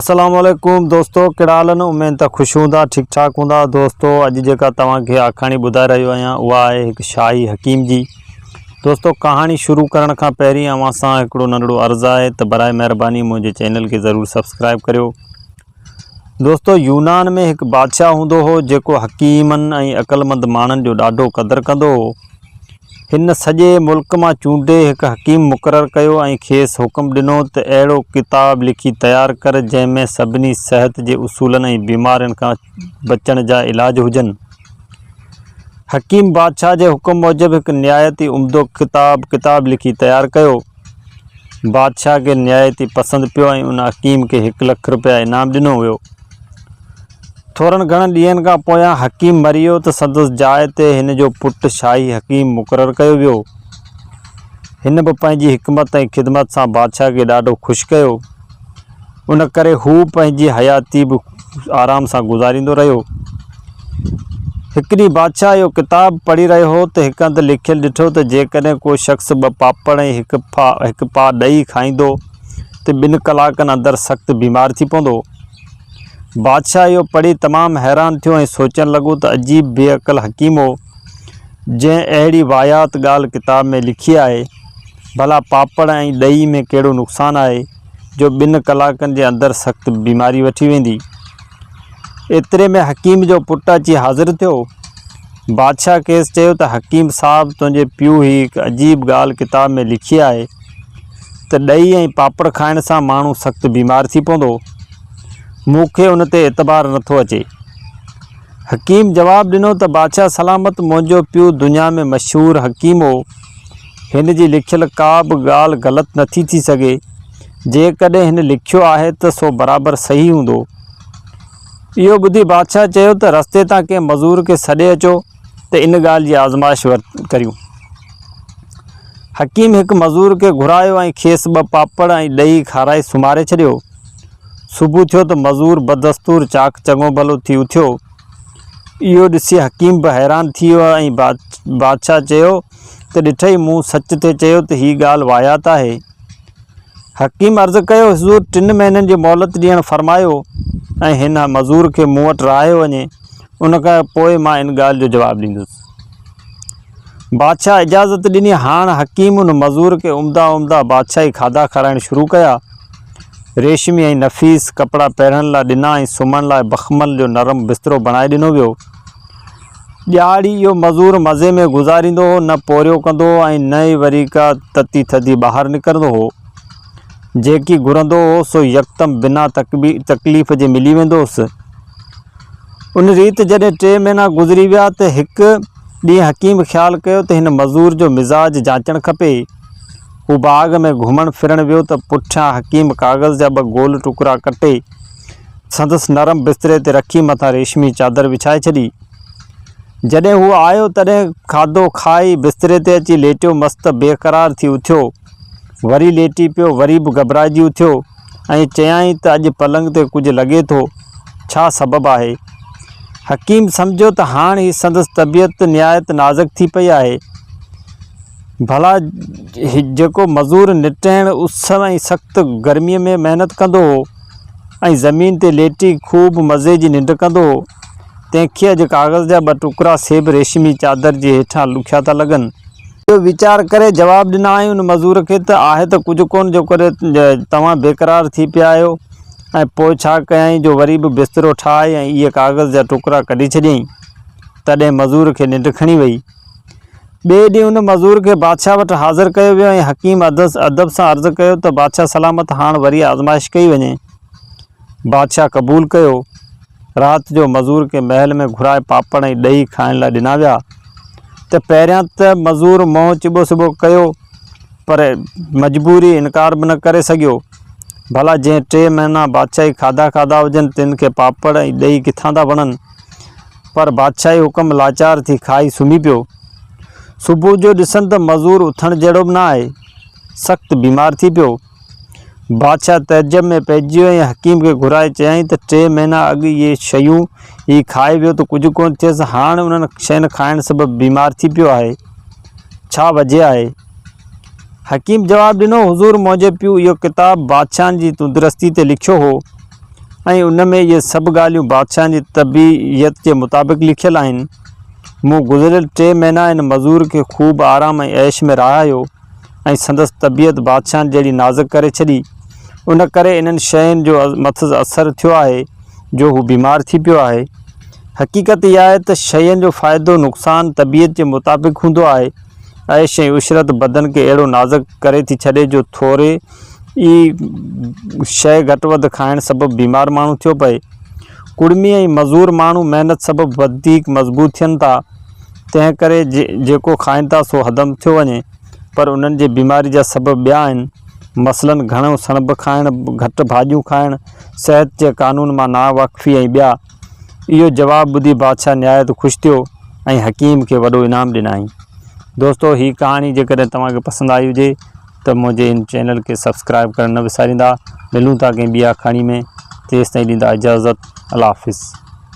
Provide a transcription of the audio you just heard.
اسلام عليڪم دوستو ڪھڙا حال آھن اميد ته خوش ھوندا ٺيڪ ٺاڪ ھوندا دوستو اڄ جيڪا توھان کي آکاڻي ٻڌائي رھيو آھيان اھا آھي ھڪ شاھي حڪيم جي دوستو ڪھاڻي شروع ڪرڻ کان پهرين اوھان سان ھڪڙو ننڍڙو عرض آھي ته برائي مھرباني منھنجي چينل کي ضرور سبسڪرائب ڪريو دوستو يونان ۾ ھڪ بادشاھه ھوندو ھو جيڪو حڪيمن ۽ عقلمند ماڻھن جو ڏاڍو قدر ڪندو ھو هن سڄي ملڪ مان چونڊي هڪ حڪيم مقرر ڪيو ۽ کيس حڪم ڏنو ته اهڙو ڪتاب لکي تيار ڪر جنهن ۾ سڀني صحت جي اصولن ۽ بيمارين کان بچڻ جا علاج هجن. حڪيم بادشاهه جي حڪم موجب هڪ نهايت ئي عمدو ڪتاب ڪتاب لکي تيار ڪيو. بادشاهه کي نهايتي پسند پيو ۽ ان حڪيم کي هڪ لک رپيا انعام ڏنو ويو. ٿورن گهڻن ڏينهن کان پويان حڪيم مري ويو ته سندس جاء تي هن جو پٽ شاهي حڪيم مقرر ڪيو ويو. هن به پنهنجي حڪمت ۽ خدمت سان بادشاهه کي ڏاڍو خوش ڪيو. ان ڪري هو پنهنجي حياتي به آرام سان گذاريندو رهيو. هڪ ڏينهن بادشاهه اهو ڪتاب پڙهي رهيو هو ته هڪ هنڌ لکيل ڏٺو ته جيڪڏهن ڪو شخص ٻه پاپڙ ۽ هڪ ڦا هڪ پاء ڏهي کائيندو ته ٻن ڪلاڪن اندر سخت بيمار ٿي پوندو. بادشاهه اهو پڙهي تمام حيران ٿيو ۽ سوچڻ لڳو ته عجيب بي عقل حڪيم هو جنهن اهڙي واهيات ڳالهه ڪتاب ۾ لکي آهي. ڀلا پاپڙ ۽ ڏهي ۾ ڪهڙو نقصان آهي؟ جو ٻن ڪلاڪن جي اندر سخت بيماري وٺي ويندي. ايتري ۾ حڪيم جو پٽ اچي حاضر ٿيو. بادشاهه کيس چيو ته حڪيم صاحب تنهنجي پيء هي هڪ عجيب ڳالهه ڪتاب ۾ لکي آهي ته ڏهي ۽ پاپڙ کائڻ سان ماڻهو سخت بيمار ٿي پوندو. مون کي ان تي اعتبار نه ٿو اچي. حڪيم جواب ڏنو ته بادشاهه سلامت منهنجو پيء دنيا ۾ مشهور حڪيم هو. هن جي لکيل ڪا به ڳالهه غلط نٿي ٿي سگهي. جيڪڏهن هن لکيو آهي ته سو برابر صحيح هوندو. اهو ٻڌي بادشاهه چيو ته رستي تان ڪنهن مزور کي سڏي اچو ته ان ڳالهه جي آزمائش ڪريون. حڪيم هڪ مزور کي گهرايو ۽ کيس ٻه پاپڙ ۽ ڏهي کارائي سمهاري ڇڏيو. صبح ٿيو ته مزور بدستور چاڪ چڱو ڀلو ٿي اٿيو. اهو ڏسي حڪيم به حيران ٿي ويو ۽ بادشاهه چيو. ته ڏٺئي مون سچ تي چيو ته هي ڳالهه واهيات آهي. حڪيم عرض ڪيو حضور ٽن مهينن جي مهلت ڏيڻ فرمايو ۽ هن مزور کي مون وٽ رهايو وڃي ان کان پوء مان ان ڳالهه جو جواب ڏيندس. بادشاهه اجازت ڏني هاڻ حڪيم ان مزور کي عمدا عمدا بادشاهي کاڌا کارائڻ شروع ڪيا. ريشمي ۽ نفيس ڪپڙا پهرڻ لاء ڏنا ۽ سمهڻ لاء بخمل جو نرم بسترو بڻائي ڏنو ويو. ڄاڙ ئي اهو مزور مزي ۾ گذاريندو هو، نه پورهيو ڪندو هو ۽ نه ئي وري ڪا تتي ٿڌي ٻاهر نڪرندو هو. جيڪي گهرندو هو سو يڪدم بنا تڪليف جي ملي ويندو هوس. ان ريت جڏهن ٽي مهينا گذري ويا ته هڪ ڏينهن حڪيم خيال ڪيو ته هن مزور جو مزاج جانچڻ کپي. هو باغ ۾ گهمڻ ڦرڻ ويو ته پٺيان حڪيم ڪاغذ جا ٻه گول ٽڪرا ڪٽي سندس نرم بستري تي رکي مٿان ريشمي چادر وڇائي ڇڏي. جڏهن هو آيو تڏهن کاڌو کائي بستري تي اچي ليٽيو مس ته بي قرار ٿي اٿيو وري ليٽي پيو وري به گهٻرائجي اٿيو ۽ چيائين ته اڄ پلنگ تي ڪجهه لڳي ٿو ڇا سبب آهي؟ حڪيم سمجهيو ته هاڻ هي سندس طبيعت نهايت نازڪ ٿي پئي آهي ڀلا جيڪو مزور نٽهڻ اس ۽ سخت گرمي ۾ محنت ڪندو هو ۽ زمين تي ليٽي خوب مزي جي ننڊ ڪندو هو. تنهن کي اڄ ڪاغذ جا ٻه ٽڪرا سيب ريشمي چادر جي هيٺان لکيا ٿا لڳن. اهو ويچار ڪري جواب ڏنائين ان مزور کي ته آهي ته ڪجهه ڪونه جو ڪري توهان بيقرار ٿي پيا آهيو ۽ پوء ڇا ڪيائين جو وري به بسترو ٺاهي ۽ اهي ڪاغذ جا ٽڪرا ڪڍي ڇڏيائين. تڏهن مزور کي ننڊ کڻي وئي. ٻئي ڏينهن ان مزور کي بادشاهه وٽ حاضر ڪيو ويو ۽ حڪيم عدس ادب سان عرض ڪيو ته بادشاهه سلامت هاڻ وري آزمائش ڪئي وڃي. بادشاهه قبول ڪيو. رات جو مزور کي محل ۾ گهرائي پاپڙ ۽ ڏهي کائڻ لاء ڏنا ويا ته پهريان ته مزور منهن چٻو سٻو ڪيو پر مجبوري انڪار به نه ڪري سگهيو. ڀلا جنهن ٽي مهينا بادشاهي کاڌا کاڌا هجن تن کي پاپڙ ۽ ڏهي ڪٿان ٿا وڻن. پر بادشاهي حڪم لاچار ٿي کائي سمهي پيو. صبح جو ڏسن ته مزور اٿڻ جهڙو به نه آهي. سخت بيمار ٿي پيو. بادشاهه تعجب ۾ پئجي ويو ۽ حڪيم کي گهرائي چيائين ته ٽي مهينا اڳ اهي شيون هي کائي ويو ته ڪجهه ڪونه ٿيس، هاڻ انهن شين کائڻ سبب بيمار ٿي پيو آهي. ڇا وجهه آهي؟ حڪيم جواب ڏنو، حضور منهنجي پيو اهو ڪتاب بادشاهن جي تندرستي تي لکيو هو ۽ ان ۾ اهي سڀ ڳالهيون بادشاهن جي طبيعت جي مطابق لکيل آهن. مون گذريل ٽي مهينا ان مزور کي خوب آرام ۽ عيش ۾ رهايو ۽ سندس طبيعت بادشاهن جهڙي نازڪ ڪري ڇڏي. ان ڪري انهن شين جو مٿس اثر ٿيو آهي جو هو بيمار ٿي پيو آهي. حقيقت اها آهي ته شين جو فائدو نقصان طبيعت جي مطابق هوندو آهي. عيش ۽ عشرت بدن کي اهڙو نازڪ ڪري ٿي ڇڏي جو ٿوري ئي شيء گهٽ وڌ کائڻ سبب بيمار ماڻهو ٿيو پئي. ڪڙمي ۽ مزور ماڻهو محنت سبب وڌيڪ مضبوط ٿين ٿا، تنهن ڪري جيڪو کائن ٿا سو هضم ٿيو وڃي، پر انهن جي بيماري جا سبب ٻيا آهن، مثلاً گهڻو سڻڀ کائڻ، گهٽ ڀاڄيون کائڻ، صحت جي قانون مان ناواقفي ۽ ٻيا. اهو جواب ٻڌي بادشاهه نهايت خوش ٿيو ۽ حڪيم کي وڏو انعام ڏنائين. دوستو هي ڪهاڻي جيڪڏهن توهان کي پسند آئي هجي ته منهنجي هن چينل کي سبسڪرائيب ڪرڻ نه وساريندا. ملون ٿا ڪنهن ٻي آکاڻي ۾ تيستائين ڏيندا اجازت. الله حافظ.